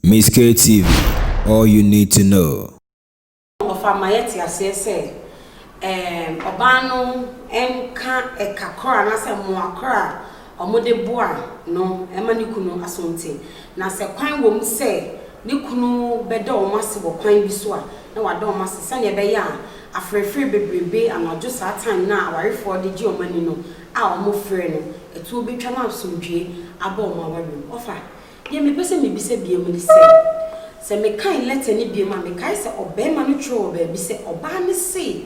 Miss K TV, all you need to know. Ɔfa ma yɛte aseɛ sɛ ɛɛm ɔbaa no nka ɛka koro anaasɛ mmoa koro a wɔde boa no ma ne kunu asonte. Na sɛ kwan wom sɛ ne kunu bɛda wɔn ase wɔ kwan bi so a, na wada wɔn ase sɛnea ɛbɛyɛ a aferefere bebrebe anadwo saa time no a awarefoɔ de gye wɔn ani no a wɔfrɛ no, ɛtoɔ bɛtwa na asomdwoeɛ aba wɔn aware mu. Ɔfa, deɛ mepɛ sɛ mebisa biom ne sɛ, sɛ mekan letter no biom a, mekae sɛ ɔbarima no twerɛ wɔ baabi sɛ ɔbaa no se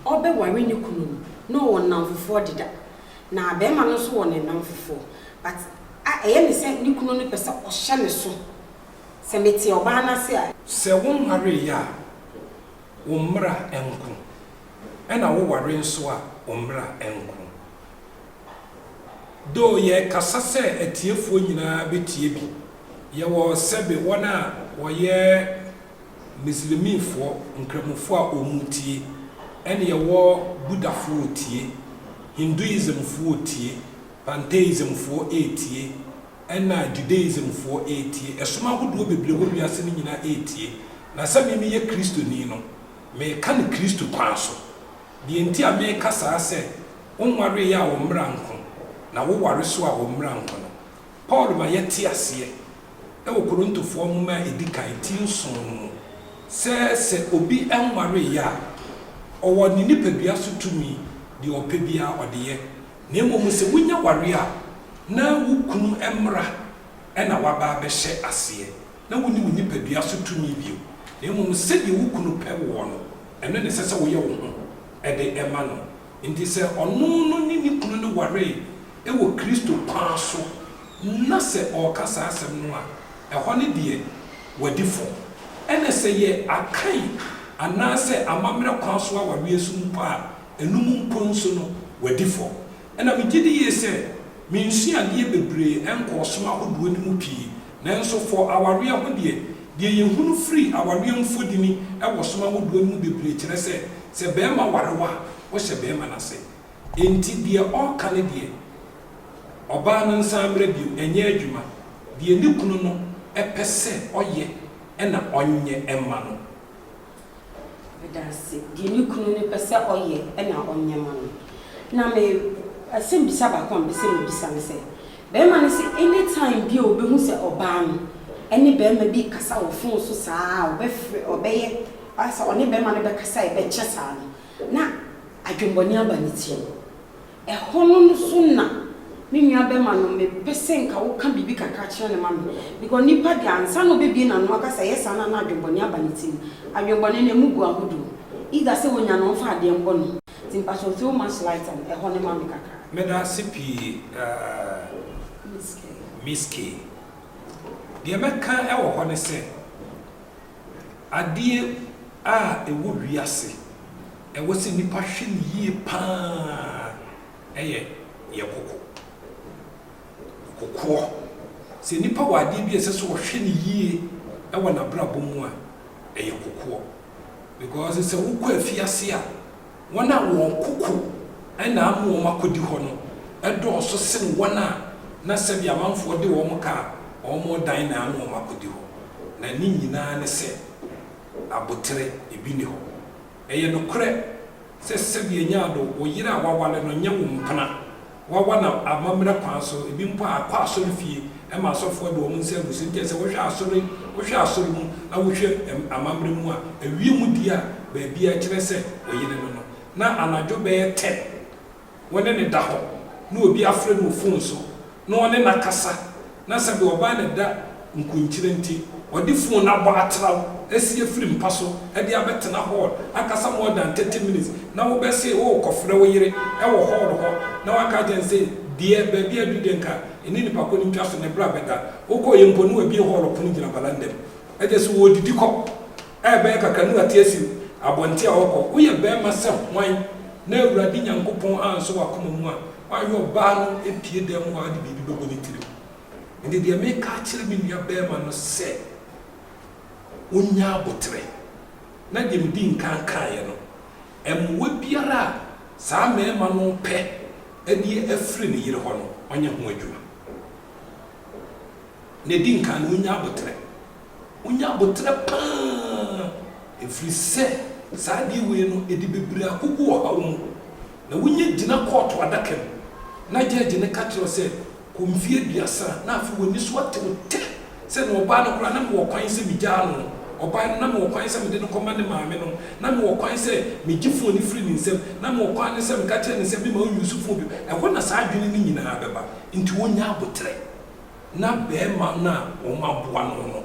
ɔrebɛware ne kunu no, na ɔwɔ nnamfofoɔ deda. Na bɛɛma no nso wɔ ne nnamfofoɔ but a ɛyɛ ne sɛ ne kunu no pɛ sɛ ɔhyɛ ne so sɛ mete ɔbaa no ase a. Sɛ wo nwareeɛ a, wo mmra nko, ɛna wo ware nso a, wo mmra nko. Though yɛrekasa sɛ atiefoɔ nyinaa bɛtie bi, yɛwɔ sɛbe wɔn a wɔyɛ. Mislimifoɔ, Nkramofoɔ a wɔtie, ɛne yɛwɔ Buddhafoɔ retie, Hinduismfoɔ retie, Pantheismfoɔ retie, ɛna Judaismfoɔ retie, ɛsom ahodoɔ bebree a ɛwɔ wiase no nyinaa retie. Na sɛ me meyɛ Kristoni no, mereka no Kristo kwan so. Deɛ nti a mereka saa sɛ, wonwareeɛ a wo mmara nko, na woware nso a wo mmara nko no, Paul ma yɛte aseɛ wɔ Korintofoɔ nwoma a ɛdi kan ti nson no mu sɛ, sɛ obi nwareeɛ a, ɔwɔ ne nipadua so tumi, deɛ ɔpɛ biara ɔde yɛ, na mmom sɛ wonya wareɛ a, na wo kunu mmara na woaba abɛhyɛ aseɛ, na wonni wo nipadua so tumi bio, na mmom sɛdeɛ wo kunu pɛ woɔ no, ɛno na ɛsɛ sɛ woyɛ wo ho de ma no. Enti sɛ ɔno no ne ne kunu no waree wɔ Kristo kwan so na sɛ ɔreka saa asɛm no a, ɛhɔ no deɛ wadi fɔ. Ɛnna sɛ yɛ Akan anaasɛ amammerɛ kwan so awareɛ so mpo a, ɛno mu mpo nso no, wadi fɔ. Ɛnna megye di yie sɛ mensua adeɛ bebree nkɔɔ som ahodoɔ no mu pii. Nanso for awareɛ ho deɛ, deɛ yɛhunu firi awareɛ mu fodini wɔ som ahodoɔ no mu bebree kyerɛ sɛ, sɛ barima ware wo a, wohyɛ barima no ase. Enti deɛ ɔreka ne deɛ, ɔbaa no nsan mmra bio, ɛnyɛ adwuma. Deɛ ne kunu no pɛ sɛ ɔyɛ na ɔnyɛ mma no. Adanse, deɛ ne kunu no pɛ sɛ ɔyɛ na ɔnyɛ ma no. Na me asɛm bisa baako a mepɛsɛ me bisa ne sɛ, barima no sɛ any time bi a ɔbɛhu sɛ ɔbaa no ɛne barima bi rekasa wɔ phone so saa a ɔbɛfrɛ ɔbɛyɛ asɛ ɔne barima no bɛkasa a ɛbɛkyɛ saa no na adwenbɔne aba ne tirim. Ɛhɔ no nso na me nua bɛma no me pɛ sɛ nka wo ka biribi kakra kyerɛ no ma me because nipa deɛ ansa na ɔbɛ bie n'ano aka sɛ ɛyɛ saa no a na adwenbɔne aba ne tirim adwenbɔne no ɛmu gu ahodoɔ either sɛ ɔnya no ɔmfa adeɛ mbɔ no nti mpakyɛw throw much light on ɛhɔ no ma me kakra. Meda ase pii aah Miss Kay. Deɛ mɛka wɔ hɔ ne sɛ Adeɛ a ɛwɔ wiase ɛwɔ sɛ nnipa hwɛ no yie pa ara yɛ deɛ kɔkɔ. Kɔkɔɔ. Sɛ nipa wɔ adeɛ bi a ɛsɛ sɛ ɔhwɛ no yie wɔ n'abrabɔ mu a, ɛyɛ kɔkɔɔ. Because sɛ wokɔ afiase a. wɔn a wɔn koko na ama wɔn akɔdi hɔ no dɔɔso sen wɔn a na sɛdeɛ amanfoɔ de wɔn ka a wɔn dan na ama wɔn akɔdi hɔ, na ne nyinaa ne sɛ aboterɛ, ebi nni hɔ. Ɛyɛ nokorɛ sɛ sɛdeɛ Nyaado, wo yere a woaware no nyɛ wo mpena wɔawa no amammerɛ kwan so, ebi mpo akɔ asɔrefie ma asɔfoɔ de wɔn nsa agu so. Enti sɛ wohwɛ asɔre, wohwɛ asɔre mu na wohwɛ amammerɛ mu a, ewiem deɛ a baabi a ɛkyerɛ sɛ wɔyere no no, na anadwo bɛyɛ ten, wɔne no da hɔ, na obi afrɛ no wɔ fon so, na ɔne no akasa, na sɛ deɛ ɔbaa no da nkunkyire nti ɔde fon no abɔ atraw asi afiri mpa so de abɛtena hɔɔl akasa more than thirty minutes na wobɛ se worekɔfrɛ wo yere wɔ hɔɔl hɔ na waka akyerɛ no se deɛ baabi adu deɛ nka ɛne nipa ko no ntwa so ne bra bɛda wokɔeɛ mpo na wabue hɔɔl pono gyina balanda mu gye se wɔredidi kɔ a ɛbɛyɛ kakra ne w'ate afi abɔnten a ɔɔkɔ, woyɛ bɛɛma sɛ hwan na Awurade Nyankopɔn ansɔ w'akoma mu a woanyɛ ɔbaa no apue dan mu a ɔde biribi bɛbɔ ne tirim? Ɛnde deɛ meeka akyerɛ me nua bɛɛma no sɛ ɔnnya aboterɛ, na deɛ medi nkan kaeɛ no, mmoa biara a saa mɛɛma no repɛ de afiri ne yere hɔ no, ɔnyɛ ho adwuma. Deɛ ɛdi nkan no, ɔnnya aboterɛ. Wonya aboterɛ pa ara, ɛfiri sɛ saa adeɛ wei no, ɛde bebree agugu ɔhaw mu. Na wonya gyina kɔɔto adaka mu, na gyɛɛgye no ka kyerɛ wo sɛ, Kɔ mfeɛ aduasa. Na afei w'ani so ate wo tɛ sɛ, Na ɔbaa no koraa, na mewɔ kwan sɛ megyaa no. Ɔbaa no, na mewɔ kwan sɛ mede no kɔma ne maame no. Na mewɔ kwan sɛ megye fon no firi ne nsam. Na mewɔ kwan no sɛ meka kyerɛ no sɛ memma ɔnnyusu fon bio. Ɛhɔ na saa adwene no nyinaa bɛba. Enti wonya aboterɛ. na barima no a wɔaboa no no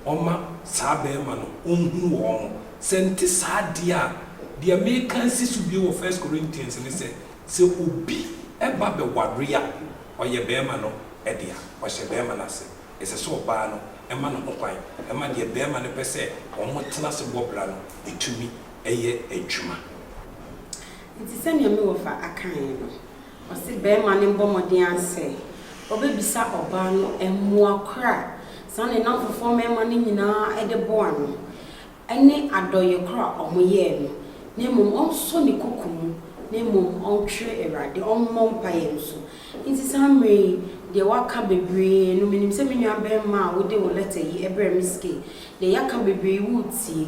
ɔma saa barima no ɔhu wɔn. Sɛ nte saa deɛ a, deɛ mereka asi so bio wɔ First Corinthians ne sɛ, sɛ obi ba bɛware a, ɔyɛ barima no dea, ɔhyɛ barima no ase. Ɛsɛ sɛ ɔbaa no ma no ho kwan ma deɛ barima no pɛ sɛ wɔtena ase bɔ bra no tumi yɛ adwuma. Enti sɛdeɛ me wɔfa akaeɛ no, Ɔse bɛɛma no mbɔ mmɔden ara sɛ ɔbɛbisa ɔbaa no mmoa korɔ a saa ne nnamfofoɔ mmarima no nyinaa de boa no ne adɔeɛ korɔ a ɔmo yɛɛ no na mmom ɔnsɔ ne koko mu na mmom ɔntwere Awurade, ɔmmɔ mpaeɛ nso. Nti saa mmerɛ yi deɛ waka bebree no menim sɛ me nua bɛɛma a wode wo lɛtɛ yi brɛ me ske deɛ yɛaka bebree yi woretie